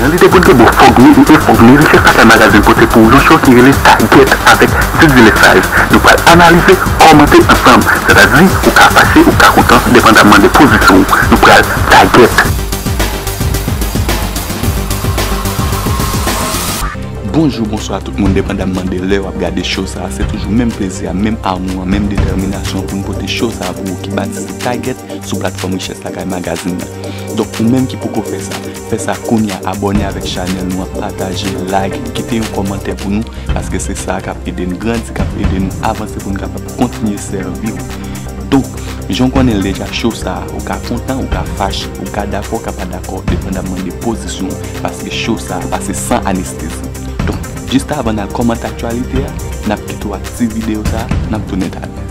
Nan lide pou l te bon fòk li e fòk li riche sa fè Magazin pote pou ou yon show ki rele Tagèt avèk Diddy Lesage. Nou pral analize, kòmante ansanm. Sètadi, ou ka fache, ou ka kontan, depandamman de pozisyon ou. Nou pral Tagèt! Bonjou, bonswa tout moun depandamman de lè w ap gade show sa a. Se toujou menm plezi a, menm amou an, menm detèminasyon an pou nou pote show sa a pou ou ki batize Tagèt sou platfòm Richès Lakay Magazin nan. Donk ou menm ki poko fè sa, fè sa kounya abòne avèk chanèl nou an pataje, like, kite yon kòmantè pou nou paske se sa kap ede n grandi, kap ede nou avanse pou n kapab kontinye sèvi w. Donk, jan w konnen l deja show sa a, ou ka kontan, ou ka fache, ou ka dakò, ou ka pa dakò depandamman de pozisyon w paske show sa a pase san anestezi. Donk, jis avan n al kòmante aktyalite a, nap kite w ak ti videyo sa a, nap tounen talè.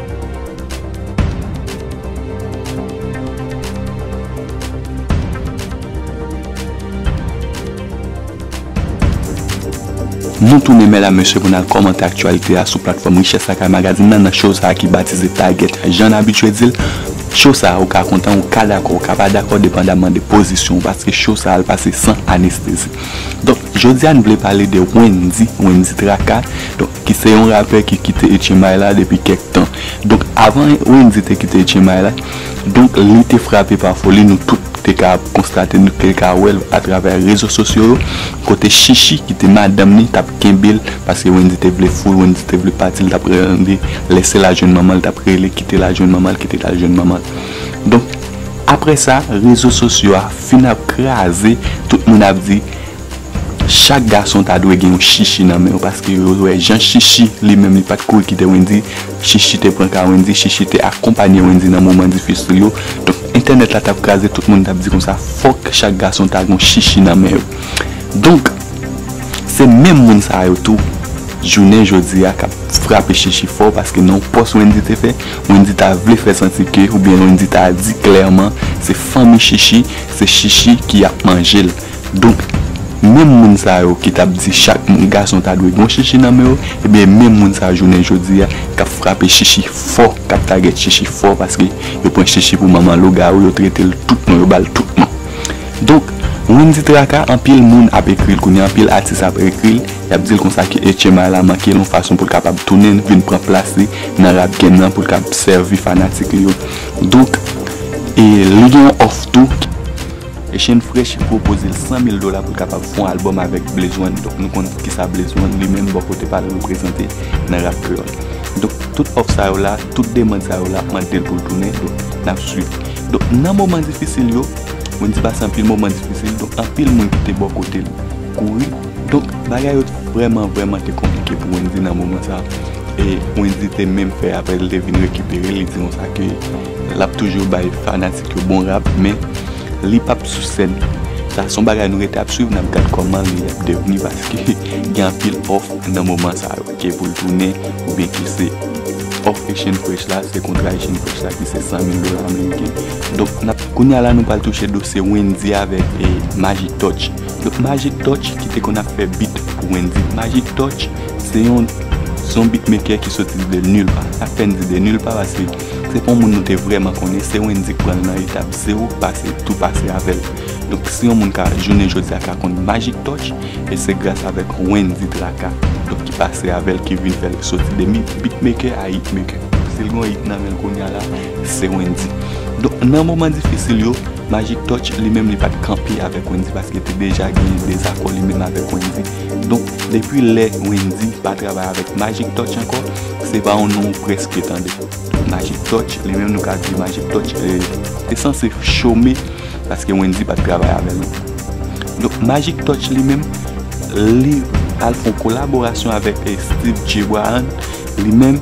Nou tounen mèdam mesye pou nal kòmante aktyalite a sou platfòm Richès Lakay Magazine nan nan show sa ki batize Target la jann abitye dil show sa ou ka kontan ou ka dakò ou ka pa dakò depandamman de pozisyon ou paske show sa al pase san anestezi donk jodia n vle pale de Wendy Wendy Traka donk ki se yon rapè ki kite Etchenbay la depi kèk tan. Donk avan Wendyy te kite Etchenbay la, donk li te frape pa foli, nou tout te ka konstate, nou te ka wè l atravè rezo sosyo yo, kote Shishi ki te madanm li t ap kenbe l, paske Wendyy te vle fou l, Wendyy te vle pati, li t ap rele, lèse l al jwenn manman l, li t ap rele, kite l al jwenn manman l, kite l al jwenn manman l. Donk aprè sa, rezo sosyo a fin ap kraze, tout moun ap di. Chak gason ta dwe gen yon shishi nan men yo paske yo wè jan shishi li menm li pat kouri kite wendyy shishi te pran ka wendyy shishi te akonpanye wendyy nan moman difisil yo donk entènèt la tap kraze tout moun tap di konsa fòk chak gason ta gon shishi nan men yo donk se menm moun sa yo tou jounen jodi a kap frape shishi fò paske nan yon pòs wendyy te fè wendyy ta vle fè santi ke oubyen wendyy ta di klèman se fanmi shishi se shishi ki ap manjel. Donk, menm moun sa yo ki t ap di chak moun gason ta dwe gen yon chichi nan men yo, ebyen e menm moun sa jounen jodi a k ap frape chichi fò, k ap tagèt chichi fò paske yo pran chichi pou manman lougawou, yo trete l tout non, yo ba l tout non. Donk, Wendy Traka, anpil moun ap ekri l kounye a, anpil atis ap ekri l, y ap di l konsa ke Etchema la manke l yon fason pou l kapab tounen vin pran plas li nan rap game nan pou l kab sèvi fanatik li yo. Donk, e li gen yon òf tou. Eshane Fresh pwopoze l 100 mil dola pou l kapab fon albòm avèk Blaze One donk nou konn kisa Blaze One li menm bò kote pa l reprezante nan rap kreyòl. Donk tout òf sa yo la, tout demand sa yo la ap mande l pou l tounen donk n ap swiv. Donk nan moman difisil yo, Wendyy pase anpil moman difisil donk anpil moun ki te bò kote l kouri donk bagay yo vrèman vrèman te konplike pou Wendyy nan moman sa e Wendyy te menm fè apèl li te vin rekipere l li di konsa ke Lap toujou bay fanatik yo bon rap men li pap sou sèn sa son bagay nou rete ap swiv nap gad kòman li ap devni paske gen anpil òf nan moman sa yo ke poul tounen oubyen ki se òf Echenn Fresh la se kontra Echenn Fresh la ki se 100 mil dola ameriken donk nap kounya la nou pral touche dosye Wendy avèk Magic Touch donk Magic Touch ki te konn ap fè beat pou Wendy Magic Touch se yon son beatmaker ki soti de nil pa apèn di de nil pa pase. Se pa yon moun nou te vrèman konnen, se Wendy k pran l nan etap zero pase tou pase avè l. Donk si yon moun ka jounen jodi a ka konn Magic Touch, e se gras avèk Wendy Traka donk ki pase avè l ki vin fè l soti de beatmaker a hitmaker. Si l gen yon hit nan men l kounya la, se Wendy. Donk nan moman difisil yo, Magic Touch li menm li pa t kanpe avèk Wendy paske te deja gen dezakò li menm avèk Wendy. Donk depi lè Wendy pa travay avèk Magic Touch ankò, se pa yon non ou prèske tande. Magic Touch, li menm nou ka di Magic Touch te sanse chome paske Wendy pa t travay avè l ankò. Donk Magic Touch li menm, li al fè yon kolaborasyon avèk Steve Gbrahan, li menm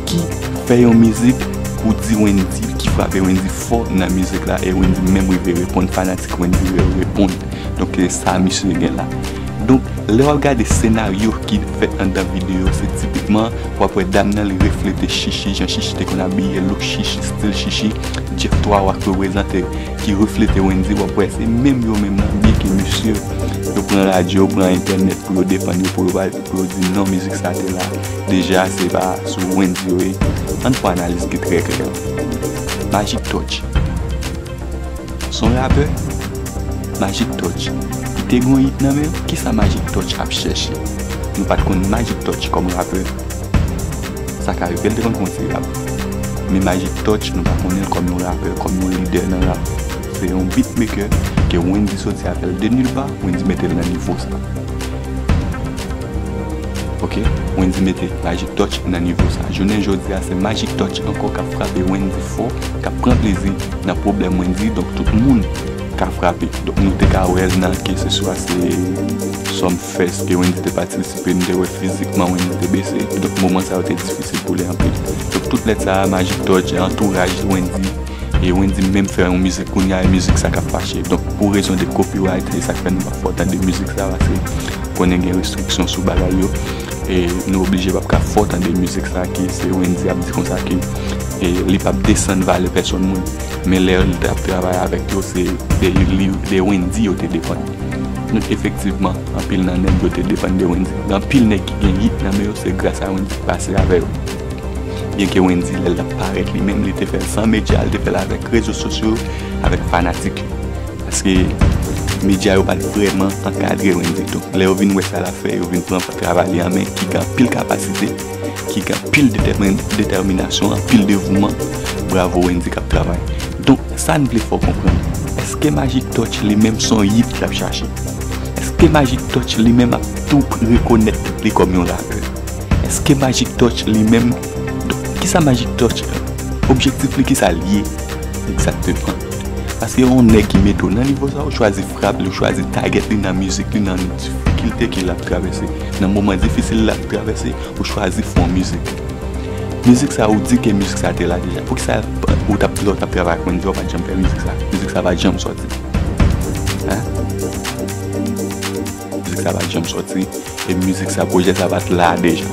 ki fè yon mizik pou di Wendy, ki frape Wendy fò nan mizik la e Wendy menm rive reponn, fanatik Wendy yo reponn. Donk sa misye gen la. Donk lè wap gade senaryo ki fèt andan video se tipikman wap wè dam nan li reflete Shishi jan Shishi te konn abiye look Shishi stil Shishi Jeff 3 wa k reprezante ki reflete Wendy wap wè se menm yo menm nan byen ke misye yo pran radyo yo pran entènèt pou yo defann yo pou yo di non mizik sa te la deja se pa sou Wendy yo ye ann fè analiz ki trè klè Magic Touch. Son rapè? Magic touch Li te gen yon hit nan menl kisa magic touch ap chèche Nou pat konn magic touch kòm rapè Sa k arivel te konn konn se rap Men magic touch nou pa konnenl kòm yon rapè kòm yon lidè nan rap Se yon beat maker ke wendy soti avèl de nul part wendy metel nan nivo sa Ok wendy mete magic touch nan nivo sa jounen jodi a se magic touch ankò kap frape wendy fò kap pran plezi nan pwoblèm mwen di donk tout moun ka frape donk nou te ka wèl nan keseswa se sòm fès ke Wendy te patisipe nou te wè fizikman Wendy te bese donk moman sa yo te difisil pou li anpil donk tout lèt sa a Magic Touch e antouraj Wendy e Wendy menm fè yon mizik kounye a e mizik sa kap fache donk pou rezon de copyright se sak fè nou pa fè w tande mizik sa pase konnen gen restriksyon sou bagay yo. E nou oblije pap ka fò tande mizik sa ki se Wendy ap di konsa ke li pap desann valè pèsòn moun. Men lè li tap travay avèk yo se de Wendy yo te depann. Donk efektivman anpil nan nèg yo te depann de Wendy. Gen anpil nèg ki gen hit nan men yo se gras a Wendy ki pase avè yo. Byen ke Wendy lè li tap parèt li menm li te fèl san medya, li te fèl avèk rezo sosyo yo, avèk fanatik yo. Paske medya yo pa t vrèman ankadre Wendy tou. Lè yo vin wè sa l ap fè, yo vin pran travay li an men, ki gen anpil kapasite, ki gen anpil detèminasyon, anpil devouman. Bravo Wendy k ap travay. Donk, sa n vle fè w konprann, èske Magic Touch li menm se yon yit ki ap chache? Èske Magic Touch li menm ap tou rekonèt tèt li kòm yon rapè? Èske Magic Touch li menm, donk, kisa Magic Touch, objektif li kisa l ye egzakteman? Paske yon nèg ki mete w nan nivo sa, ou chwazi frap li, ou chwazi tagèt li nan mizik li, nan difikilte ke l ap travèse, nan moman difisil l ap travèse, ou chwazi fè yon mizik. Mizik sa ou di ke mizik sa te la deja. Poukisa ou t ap lè w t ap travay ak Wendyy ou pa t janm fè mizik sa? Mizik sa pa t janm sòti. Mizik sa pat janm soti e mizik sa projè sa pat la deja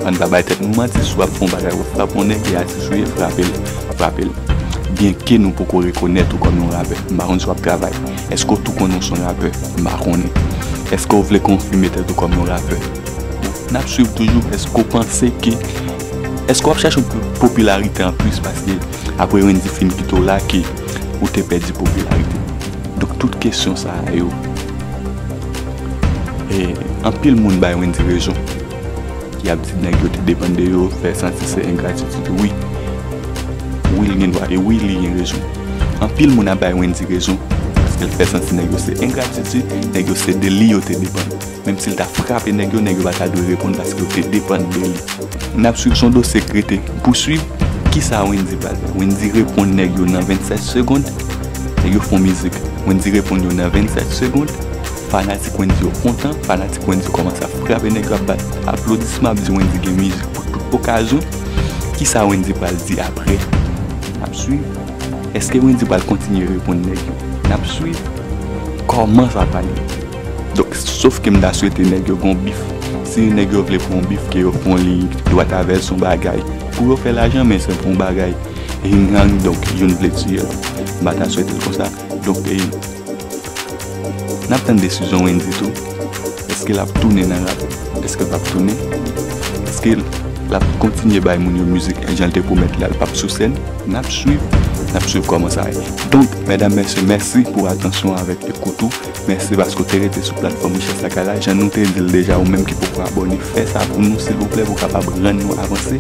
ann pa bay tèt nou manti si wap fè yon bagay ou frap yon nèg li atis ou ye frapel frapel byen ke nou poko rekonèt ou kòm yon rapè m pa konn si wap travay eske w tou konnen w son rapè m pa konnen eske w vle konfime tèt ou kòm yon rapè nap swiv toujou eske w panse ke eske wap chache popilarite anplis paske. Apre Wendy fin kite w la ke ou te pèdi popilarite. Donk tout kesyon sa a yo, anpil moun bay Wendy rezon. Y ap di nèg yo te depann de yo, fè santi se engratitid. Wi, wi l gen dwa e wi li gen rezon. Anpil moun ap bay Wendy rezon paske l fè santi nèg yo se engratitid, nèg yo se de li yo te depann. Menm si l ta frape nèg yo, nèg yo pa ta dwe reponn paske yo te depann de li. N ap swiv son dosye k rete pou swiv. Kisa Wendyy pral fè? Wendyy reponn nèg yo nan 27 segond. Nèg yo fon mizik. Wendyy reponn yo nan 27 segond. Fanatik Wendyy yo kontan. Fanatik Wendyy kòmanse ap frape nèg yo, ap bat aplodisman, ap di Wendyy gen mizik pou tout okazyon. Kisa Wendyy pral di apre? N ap swiv. Eske Wendyy pral kontinye reponn nèg yo? N ap swiv. Kòman sa pral ye? Donk sof ke m ta swete nèg yo gon bif. Si nèg yo vle pran yon bif ke yo pran li dwat avè l s on bagay pou yo fè lajan men se pou yon bagay hing hang donk youn vle tiye lòt. M pa ta swete l konsa. Donk e n ap tann desizyon Wendyy tou. Eske l ap tounen nan rap? Eske l p ap tounen? Eske l ap kontinye bay moun yo mizik jan l te pwomèt la l p ap sou sèn? N ap swiv. N ap swiv kòman sa ye. Donk mèdam mèsye mèsi pou atansyon avèk ekout ou. Mèsi paske w te rete sou platfòm richès lakay la jan nou te di l deja ou menm ki poko abòne fè sa pou nou silvouplè pou w kapab rann nou avanse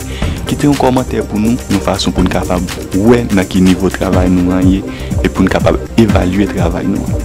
kite yon kòmantè pou nou yon fason pou n kapab wè nan ki nivo travay nou an ye e pou n kapab evalye travay nou an.